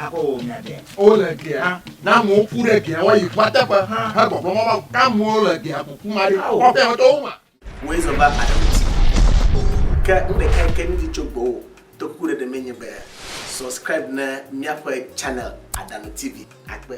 Aƒe wɔ nya ɖe. Wole gea na amewo ku ɖe gea woayi ƒua teƒe he gbɔgblɔ mɔ be amewo le gea kuku ma ɖi kɔ ƒea me tɔwo ma. Wòe zɔ va aɖe ŋuti. Ke nu ɖeka yi ke mi di tso gbɔwò to ku ɖeɖe mee nye be subscribe ne míaƒe channel Adano TV akpe.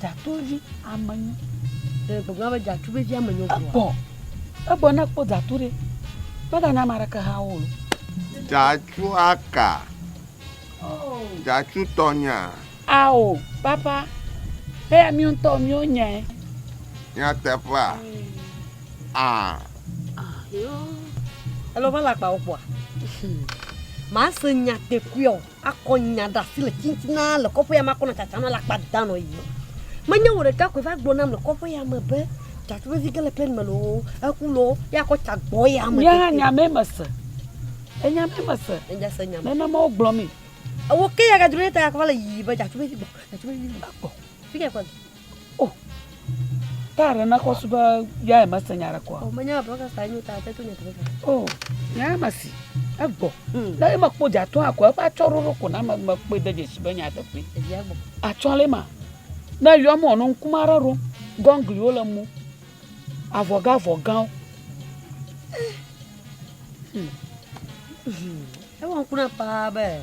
Dzatɔvi ame nyo. Ɖe gbegblẽ be dzatɔvi dzi ame nyo gbɔ. Egbɔ. Egbɔ ne kpɔ dzatɔ ɖe. Mega nya mara ke ha wo. Dzatɔ aka. Oh. Dzatɔ tɔ nya. Ao, papa. He ya mio tɔ mio nya. Nya teƒa. Ah. Ah, yo. Elo va la kpa wo kpɔ. Ma se nya te kuio. Akɔ nya ɖe asi le titina le kɔƒe ya me akɔ nɔ tsatsa nɔ le akpa da nɔ yi. Menye wò ɖeka koe va gblɔ nam le kɔƒe ya me be tsatsa vevi ge le plɛn me lo eku lo ya akɔ tsa gbɔ ya me. Nye hã nya me mese. Enya me mese. Enya se nya me. Nenema wogblɔ mi. Ewo ke ya gadro ɖe ta ya kɔ va le yiyi be tsatsa vevi gbɔ tsatsa vevi gbɔ. Fi ke kɔ. Oh, ta ɖe na kɔsu be ya eme se nya ɖe kɔa. O menya bro ka sa nyo ta te to nya tebe. Oh, nya ma si egbɔ. Na hmm. ema kpo ja to akɔ eƒe atsɔ ɖoɖo ko na me me kpe de dzesi be nya teƒe. Evia gbɔ. Atsɔ le ma. Na yɔ mo no nkuma ɖe ɖo. Gɔngliwo le mu. Avɔga avɔgawo. Eh. Hmm. Hmm. Ewa nkuna pa be.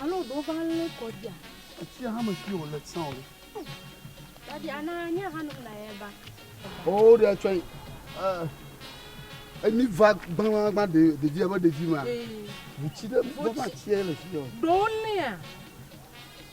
Alo ɖewo va lé kɔ dia. Etsia hã me kio le tsã o. Dadi ana nya hã nom na ye ba. O ɖe tsɔ yi. Emi va gbagbagba de ɖevi ebe ɖevi ma. Ŋutsi ɖe bɔba tsia le fi. Ɖewo lea.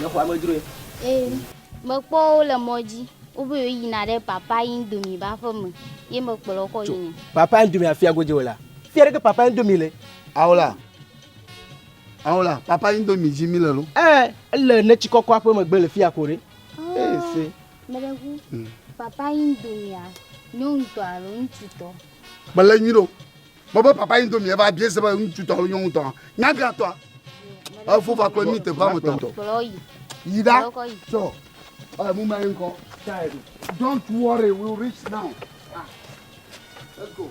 Mexɔ amedzroe. Ee, mekpɔ wo le mɔ dzi. Wobe yina ɖe papa Indomie ba ƒe me. Ye mekplɔ kɔ yina. Papa Indomie afia godzi wò la. Fia ɖeke papa Indomie le. Awo la. Ao la, papa indomie dzi mi le lo. Eh, ele ne tsi kɔkɔ aƒe megbe le fia ko ɖe. Eh, se. Mele ŋu. Hmm. Papa indomie nyɔnutɔ alo ŋututɔ. Mele nyi ɖo. Bɔbɔ papa indomie va bie se be ŋututɔ alo nyɔnutɔ. Nyaga tɔ. Efo va kple mi te va me tɔ. Kplɔ yi. Yi da. Tɔ. Eh, mu mai nkɔ. Don't worry, we'll reach now. Ah. Let's go.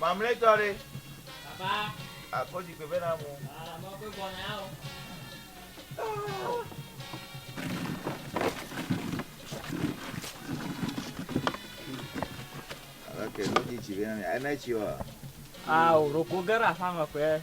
Mamlɛtɔ ɖe. Baba. Akɔ zikpui vɛ na mo. Aa, mo ko gbɔ na ya o. Ok, mo ti tsi vɛ na mi. Ena tsi wa. Aa, o roko gera fama kwe.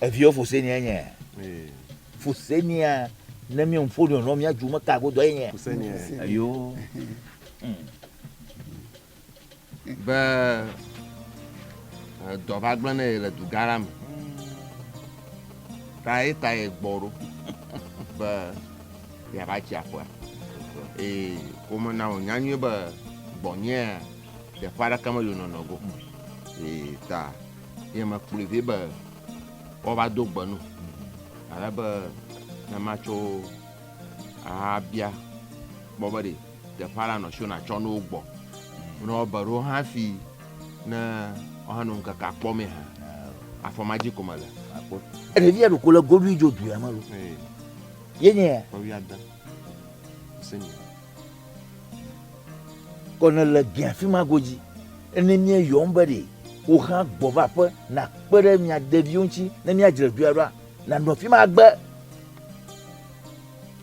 Eviwo fu se nia nye. Fu se nia ne mi ŋu ƒo nɔ mia ju me ka godo ye nye. Ayo. Be dɔ va gblẽ ne ye le du gã la me. Ta ye ta ye gbɔ ɖo. Be ya va tsi aƒea. Ee, ko me na wò nya nyuie be gbɔnyea, ɖe ƒe aɖeke me yonɔ nɔ go. Ee, ta. ye mekplɔe vɛ be woava do gbe nu ale be ne matso ahabia gbɔ be ɖe teƒe aɖe anɔ si wona tsɔ nuwo gbɔ. Ne wobe ɖo hã fi ne woanɔ ŋkeke akpɔ mee hã afɔ ma dzi ko mele. Ɖevi ya ɖoko le goɖui dzo du ya me lo. Ye nye ya. Kɔvi ade. Senior. Kɔ ne le gbea fi ma godzi. Ene mia yɔm be ɖe wo hã gbɔ va ƒe na kpe ɖe mia ɖeviwo ŋuti ne mia dzre dua ɖoa na nɔ fi ma gbe.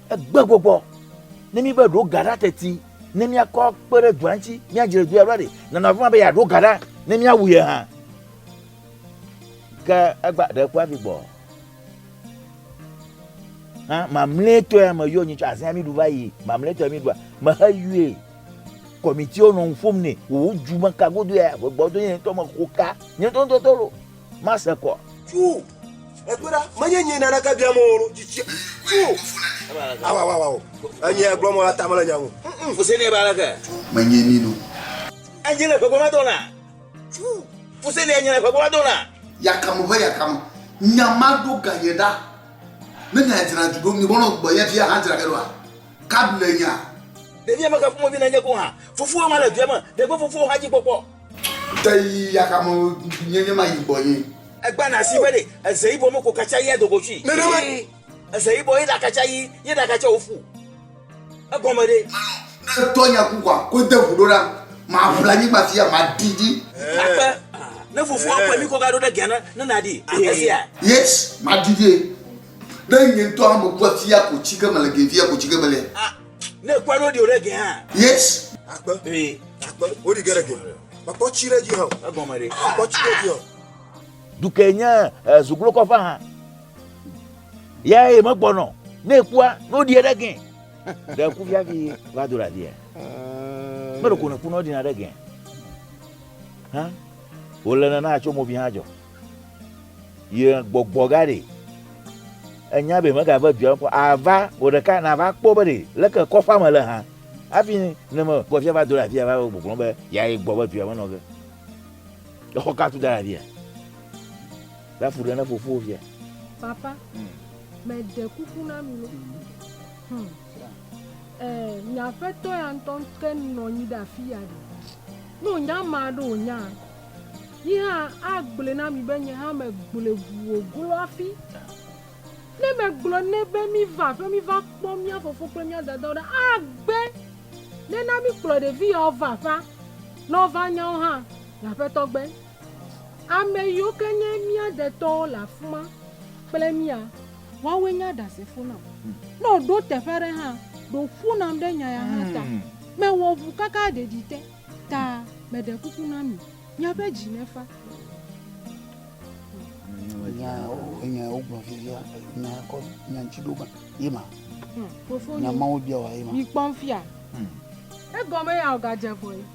Egbe gbɔgbɔ. Ne mi be ɖo ga ɖa teti ne mia kɔ kpe ɖe dua ŋuti mia dzre dua ɖoa ɖe na nɔ fi ma be ya ɖo ga ɖa ne mia wu ye hã. Ke egba ɖe kua vi gbɔ. hã mamlɛtɔe me yɔ nyi tso azia mi ɖu va yi mamlɛtɔe mi ɖua me he yue kɔmitiwo nɔ nu ƒom nɛ wò ju me ka godo ya wò gbɔdo nye ŋutɔ me ko ka nye ŋutɔ ŋutɔ tɔ lo ma se kɔ. tu ekpe ɖa menye nye naneke bia mo lo tsitsi tu awa awa awa o enye gblɔ mo la ta mele nya ŋu. fuse ne ba leke menye mi lo. enye le gbegbe ma dɔna. Fuselia nyre ƒe gbɔva dona. Yakam ƒe yakam. Nya ma ɖo ga nye ɖa. Ne nya dzra du ɖo, mibɔ nɔ gbɔ nye fia hã dzra ge ɖoa? Kab le nya. Ɖevia me xe ƒomevi nenye ko hã. Fofoa ma le due me. Ɖe gbe fofoa hã dzi kpɔkpɔ. Te yi yakam nye nye ma yi gbɔ nye. Egba na si be ɖe eze yibɔ me ko katsa yi ado go tsui. Nenema. Eze yibɔ yi ɖa katsa yi ye ɖa katsa wo fu. Egɔme ɖe? Etɔ nya ku kɔa, ko de ŋu ɖo na. Maʋla anyigba fia, maɖi dzi. Akpe, ne fofoa ƒle mí kɔ gaɖo ɖe Ghana ne nàɖi esia? Yes, maɖi dzi. Ne nye ŋutɔ hã mekua fia ko tsi ke mele gee fia ko tsi ke mele. Ah, ne èkpɔe ɖo ɖi wòɖe ge hã. Yes. Akpe, akpe, woɖi ge ɖe ge. Mekpɔ tsi ɖe edzi hã o. Egɔme ɖe? Mekpɔ tsi ɖe edzi hã o. Duke nye zuglokɔƒe hã. ya ye megbɔnɔ ne ekua ne woɖi eɖe gɛ ɖe ku fiafi va do ɖe adia meɖo ko ne ku ne woɖina ɖe gɛ hã wòle nana atso movi hã dzɔ ye gbɔgbɔ ga ɖe enya be megave dua kɔ ava wò ɖeka nava kpɔ be ɖe leke kɔƒea me le hã hafi ne me kpɔ fia va do ɖe afia va gbɔgblɔ be ya ye gbɔ be dua me nɔ ge exɔ ka tu da ɖe afia Ɖe afu ɖe ne fofo via. Papa, me de kuku na mi lo. Hmm. Eh, nya fɛ tɔ ya ntɔ ke nɔ nyi da fi ya ɖe. No nya ma ɖo o nya. Yi ha a gble na mi be nye ha me gble gu o glo afi. Ne me gblɔ ne be mi va fe mi va kpɔ mia fofo kple mia dada o ɖe a gbe. Ne na mi kplɔ ɖe vi ya o va fa. Nɔ va nya o ha, nya fɛ tɔ gbe. Ame yiwo ke nye mía detɔwo le afi ma kple mía. Woawoe nye aɖasefo nam. Ne wòɖo teƒe aɖe hã, ɖo ŋku nam ɖe nya ya hã ta. Mewɔ ŋu kaka ɖeɖi te ta meɖe kuku na mi, miaƒe dzi nefa. Nya nya ya wogblɔ fifia, nya ya kɔ nya ŋuti ɖo ma, ye ma. Fofonye, nya mawo bia wɔ ye ma. Mikpɔm fia. Egɔme ya wògadze vɔe.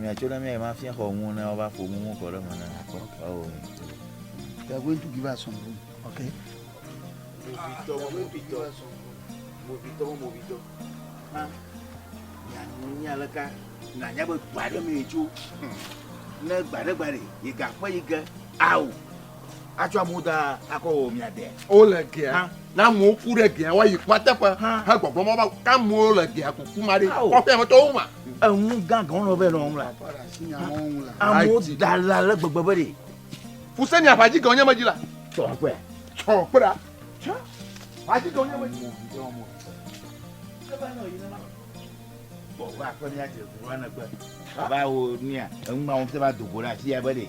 miatso ɖe mía ma fia xɔ ŋu ne wova ƒo nu ŋu kɔ ɖe me ne akpɔ ewɔ mi. They are going to give us some room. Okay. Movitɔ, movitɔ, movitɔ, movitɔ. Ha, mianu nya le ka nanya be gba ɖe mi tso. Ne gba ɖe gba ɖe, yi gaƒe yi ge, awu. Atsɔ amewo da akɔ wò miade. Wole gea ha. Ne amewo ku ɖe gea woayi kua teƒe ha hegbɔgblɔ mɔ be ke amewo le gea kuku ma ɖi kɔƒe me tɔwo ma. Enu gã gã wonɔ be nɔwo ŋla. Amewo da la le gbegbe be ɖe. Fuse ni aƒadzi gã wonye medzi la. Tsɔ kpe. Tsɔ kpe ɖa. Tsɔ. Aƒadzi gã wonye medzi. Bɔbɔ akpɛ ni adze gbe. Baba wo nia. Enu ma wo se ba dogo la si ya be ɖe.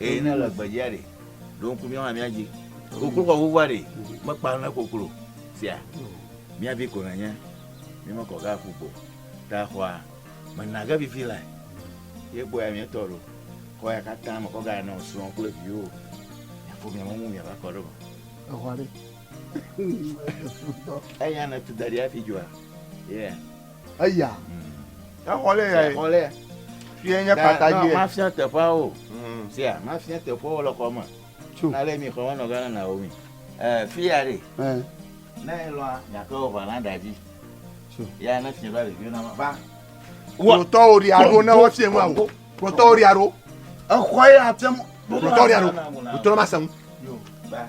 Eye ne le gbedzia ɖe, ɖo ŋku míawo hã míadzi. Koklo kɔ ʋuʋua ɖe, mekpa ne koklo sia. Mía vi ko nènye, mímekɔ ge aƒu gbo ta xɔa me na ge vivi lae. Ye kpɔe amee tɔ ɖo. Xɔ ya katã me kɔ gana nɔ srɔ̃ kple viwo. Miafɔ mia me ŋu miava kɔ ɖe eme. Exɔ aɖe. Eya ne tu da ɖi hafi dzua? Yeah. eya exɔ lɛ ya exɔ lɛ fie nye kpata dzi ma fia teƒea o mm. sia ma fia teƒea o le xɔ me na le mi xɔ me nɔ gana na wo mi ɛ fia de ne lɔ nyakɔ wo va na da dzi ya ne fia ba le fia na ma ba wo tɔ o ri aro ne wo fia ma o wo tɔ o ri aro exɔ ya tɛ mo wo tɔ o ri aro wo tɔ ma sɛn ba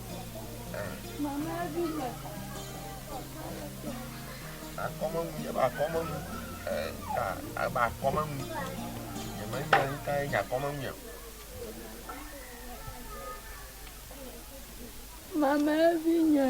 akɔmeŋu nye be akɔmeŋu ka ebe akɔmeŋu nyemenya nu kae nye akɔmeŋu o. Mama evi nya.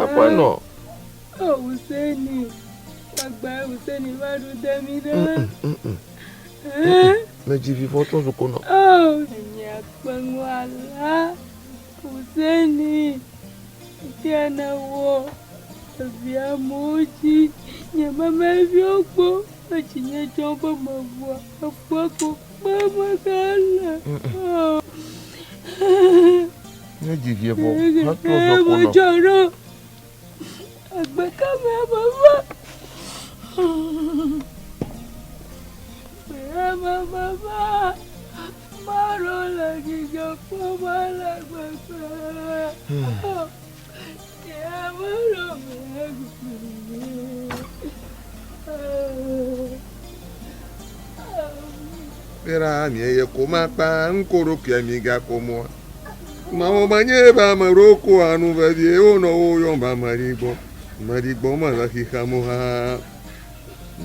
Aƒenɔ. Me dzi vi fɔ tún zuko nɔ. Husseini kene wo via mo dzi nye memeviwo kpo etsi nye tsɔ be me vua ekpɔ ko kpe me gale. Nye dzi vie vɔ hetrɔ zɔ ko nɔ. Dzɔ ɖo agbe ka me ame va. Ame me va. Mɔɖo le dzidzɔ kpɔm ale gbegbe. Bera mi eye ko ma kpa ŋko ɖo kia mi ga ko mo. Ma wo ma nye ba ma ro ko anu ve vi e wo no wo yon ba ma ri gbo. Ma ri gbo ma la ki ka mo ha.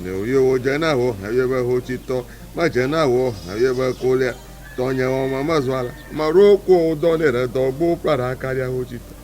Ne wo yo wo je na ho ha yo ba ho ti to. Ma je na ho ha yo ba ko le. To nye wo ma ma zwa la. Ma ro ko o do ne re do gbo pra ra ka ya ho ti to.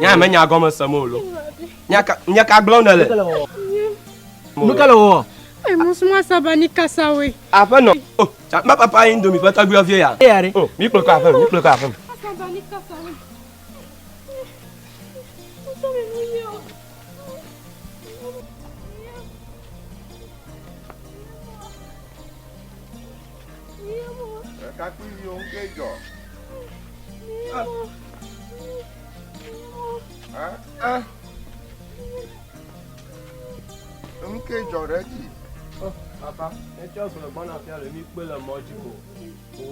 Nya me nya gɔme se mo lo. Nya ka nya ka gblɔ ne le? Nu ka le wɔ? E mo suma saba ni kasa we. Aƒe nɔ. O, ma papa yin domi pata gbe vie ya. Ya re. O, mi kple ko aƒe, mi kple ko aƒe. Saba ni kasa we. Ɖekakpuiviwo ŋkee dzɔ. Ɛ? Enu kee dzɔ ɖe edzi. Oh, papa, etsɔ gblɔ gbɔna fia le mi kpe le mɔ dzi ko.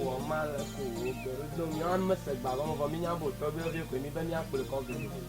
Wò ma le ko wò gbe ɖo do mi ame se gba gɔme vɔ mi nya bo tɔgbi ɔvie koe mi be mi akple kɔ gbe.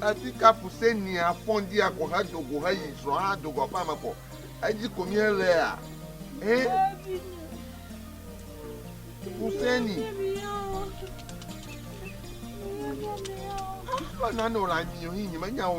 Ati kapu se ni a fɔn di a go he do go he yi zrɔ ha do go aƒe ame kɔ. Edzi ko mi he le a. He. Kuseni. Lo na no la nyi yo hi nyi me nya wo.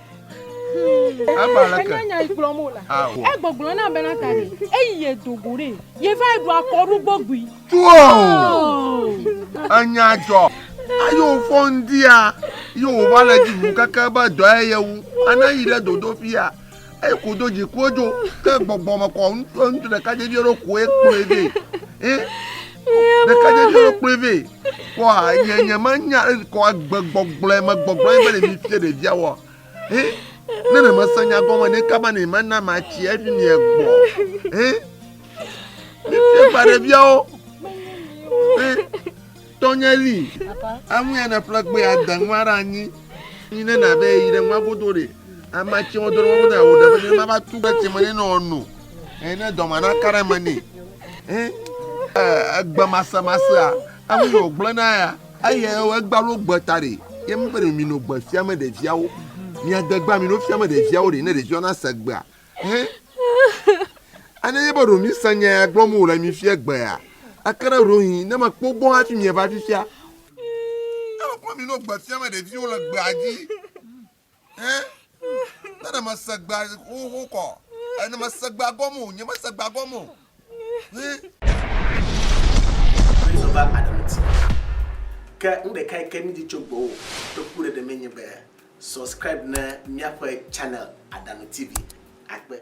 Enyanya yi gblɔm o la. Egbɔgblɔ na bena ta ɖe eyi ye do go ɖe ye va ɖu akɔɖu gbɔgbui. Tuo enya dzɔ ayo fɔ ŋdia yi wo va le dzi wu keke be dɔ ye ye wu ana yi ɖe dodo fia eyi ko do dzi ko dzo ke gbɔgbɔ me kɔ ŋutsu ɖeka dzevi ɖo ko ekplɔe vɛ. ɖekadzeviwo kplɔe vɛ kpɔa nye nye menya eŋkɔ agbe gbɔgblɔe me gbɔgblɔe be ɖe mi fie ɖevia wɔ he ne ne mese nya gɔme ne kaba ne mana matsi efi mi egbɔ he mi fie ba ɖeviawo he tɔnye li amu ya ne ƒle gbe ade nua ɖe anyi yi ne na be yi ɖe nua godo ɖe amatsi wɔdɔ nua godo awo ɖe be ne ma va tu ɖe tsi me ne nɔ no he ne dɔma na ka ɖe me ne. Egbemasemasea, enu yi wògblɔna ya, eye egba ɖo gbe ta ɖe, ye mi be ɖe mino gbe fiame ɖeviawo, miade gba mino fiame ɖeviawo ɖe, ne ɖeviawo nase gbea. Hɛ, ane ye be ɖo mise nya ya gblɔm wòle mi fia gbea, eke ɖe ɖo hin, ne mekpɔ gbɔ hafi mieva fifia. Alo kpɔ mino gbe fiame ɖeviwo le gbea dzi. Hẽ? Ne ne mese gbea xoxo kɔ. E, ne mese gbea gɔme o. Nye mese gbea gɔme o. Hẽ? Kristo va Adamu ti. Ke nu ɖeka yi ke mídi tso gbɔwò kpekpeɖeɖe mee nye be subscribe ne míaƒe channel Adamu TV. Akpe.